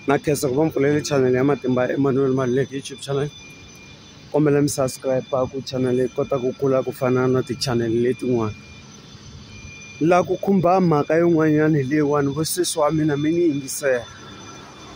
na khensa ku va mi pfulele channel ya matimba ya Emmanuel Maluleke YouTube channel kombela mi subscribe ku channel yi kota ku kula ku fana na ti-channel letin'wana la ku khumba mhaka yin'wanyana leyiwani vo sesi wa mina mi ni yingisela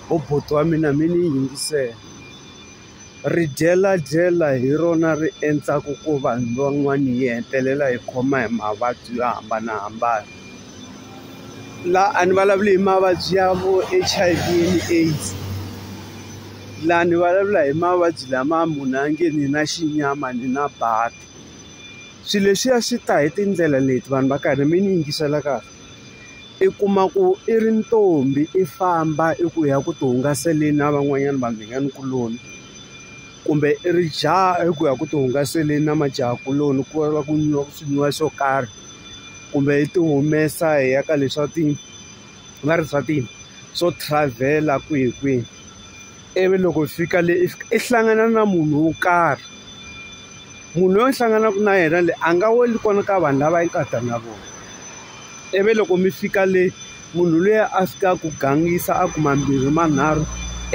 vo buti wa mina mi ni yingisela. Ri dyela-dyela hi rona ri endzaku ku vanhu van'wani yi hetelela yi khoma hi mavabyi yo hambanahambana la a ni vulavuli hi mavabyi ya vo H_I_V and AIDS la ni vulavula hi mavabyi lama munhu a nge ni na xinyama ni na baki swi leswiya swi ta hi tindlela leti vanhu va karhi mi ni yingisela . i kuma ku i ri ntombi i famba i ku ya ku ti hungaseleni na van'wanyana vanghana kuloni kumbe i ri jaha i ku ya ku ti hungaseleni na majaha kuloni ku va ku nwiwa swi nwiwa swo karhi kumbe i ti humesa hi ya ka leswa ti va ri swa ti swo travel-a kwihi kwihi. ivi loko hi fika le i fika i hlangana na munhu wo karhi munhu loyi u hlanganaka na yena le a nga weli kona ka vanhu lava i nga ta na vona ivi loko mi fika le munhu loyi a fika a ku gangisa a ku mambirhi manharhu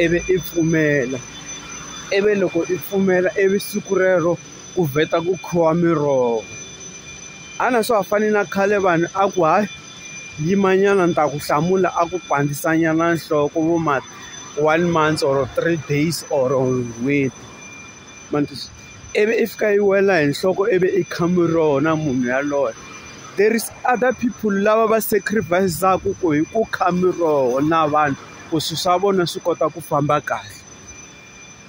ivi i pfumela ivi loko i pfumela ivi siku rero ku vheta ku khiwa miroho a na swa ha fani na khale vanhu a ku hayi yimanyana ni ta ku hlamula a ku pandzisanyana nhloko vo ma. one month or three days or n'hweti ma ni twisisa ivi i fika yi wela hi nhloko ivi i khame rona munhu yaloye there is other people lava va sacrifice-aka ku hi ku khame roho na vanhu ku swilo swa vona swi kota ku famba kahle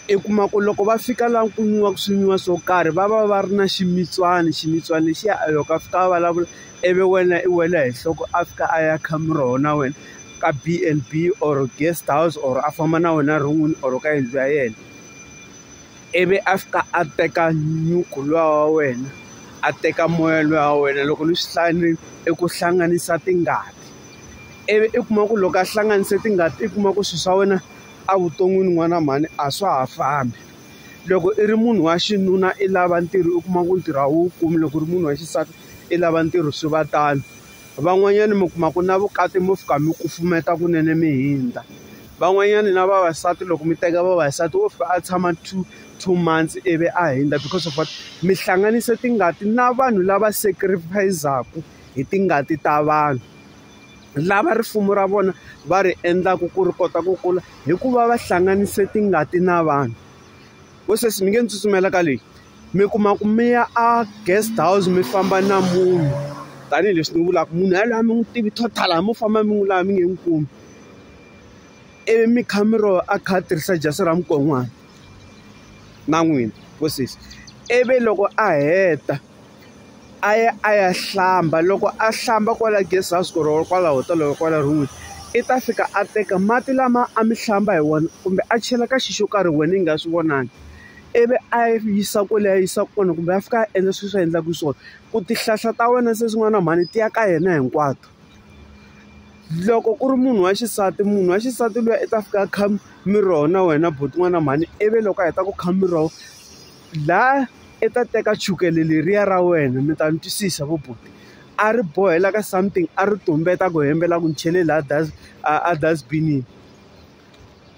i kuma ku loko va fika laha ku nwiwaka swi nwiwa swo karhi va va va ri na ximitswani ximitswani lexiya a loko a fika a vulavula. ivi wena i wela hi nhloko a fika a ya kha muroho na wena ka BNB or guest house or a famba na wena ron'wini or ka yindlu ya yena ivi a fika a teka nyuku luwa wa wena a teka moya luwa wa wena loko ni swi hlaya ni i ku hlanganisa tingati ivi i kuma ku loko a hlanganise tingati i kuma ku swilo swa wena evuton'wini n'wana mhani a swa ha fambi loko i ri munhu wa xinuna i lava ntirho u kuma ku ntirho a wu kumi loko u ri munhu wa xisati i lava ntirho swi va tano van'wanyana mi kuma ku na vukati mo fika mi kufumeta kunene mi hundza van'wanyana na vavasati loko mi teka vavasati wo fika a tshama two two months ivi a hundza because of what mi hlanganise tingati na vanhu lava sacrifice-ku hi tingati ta vanhu lava rifumo ra vona va ri endlaka ku ri kota ku kula hikuva va hlanganise tingati na vanhu. vo sweswi mi nge ni tsutsumela ka leyi mi kuma ku mi ya a guest house mi famba na munhu tanihileswi ni vulaka munhu yaloye a mi n'wi tivi total a mo famba mi n'wi laha mi nge n'wi kumi ivi mi kha mi ro a kha a tirhisa jasi ra mukon'wana na n'wina vo sesi ivi loko a heta. a ya a ya hlamba loko a hlamba kwala guest house or kwala hotel or kwala room i ta fika a teka mati lama a mi hlamba hi wona kumbe a chela ka xi xo karhi wena i nga swi vonangi ivi a yi yisa kwale a yisa kona kumbe a fika a endla sweswi a endlaka swona ku tihlahla ta wena se swin'wana na mhani ti ya ka yena hinkwato loko ku ri munhu wa xisati munhu wa xisati luya i ta fika a kha miroho na wena buti n'wana mhani ivi loko a heta ku kha miroho. laha i ta teka chukele leriya ra wena mi ta ni twisisa vo buti a ri bohela ka something a ri tumbeta ku hembela ku ni chele laha das a a dasbinini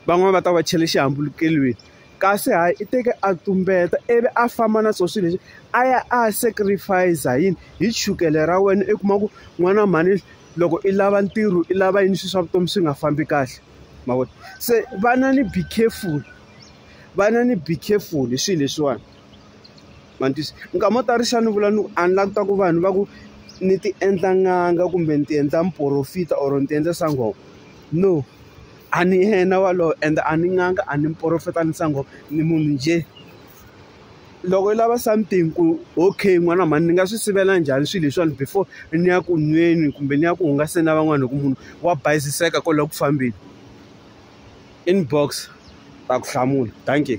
van'wani va ta va chele xihambulukelweni kasi hayi i teke a tumbeta ivi a famba na swo swilo leswi a ya a ya sacrifice yini hi chukele ra wena i kuma ku n'wana mhani loko i lava ntirho i lava yini swilo swa vutomi swi nga fambi kahle ma vona se vana ni be careful vana ni be careful hi swilo leswiwani mantiso nkama wo tarisa ni vula ni ku a ni lava ku ta ku vanhu va ku ni ti endla n'anga kumbe ni ti endla muporofita or ni ti endla sangoma no a ni yena walowo ende a ni n'anga a ni muporofita ni sangoma ni munhu njhe loko yi lava something ku okay n'wana mhani ni nga swi sivela njhani swilo leswiwani before ni ya ku nweni kumbe ni ya ku hungaseni na van'wana hi ku munhu wa bayiziseka kwale ku fambeni. inbox ta ku hlamula dankie.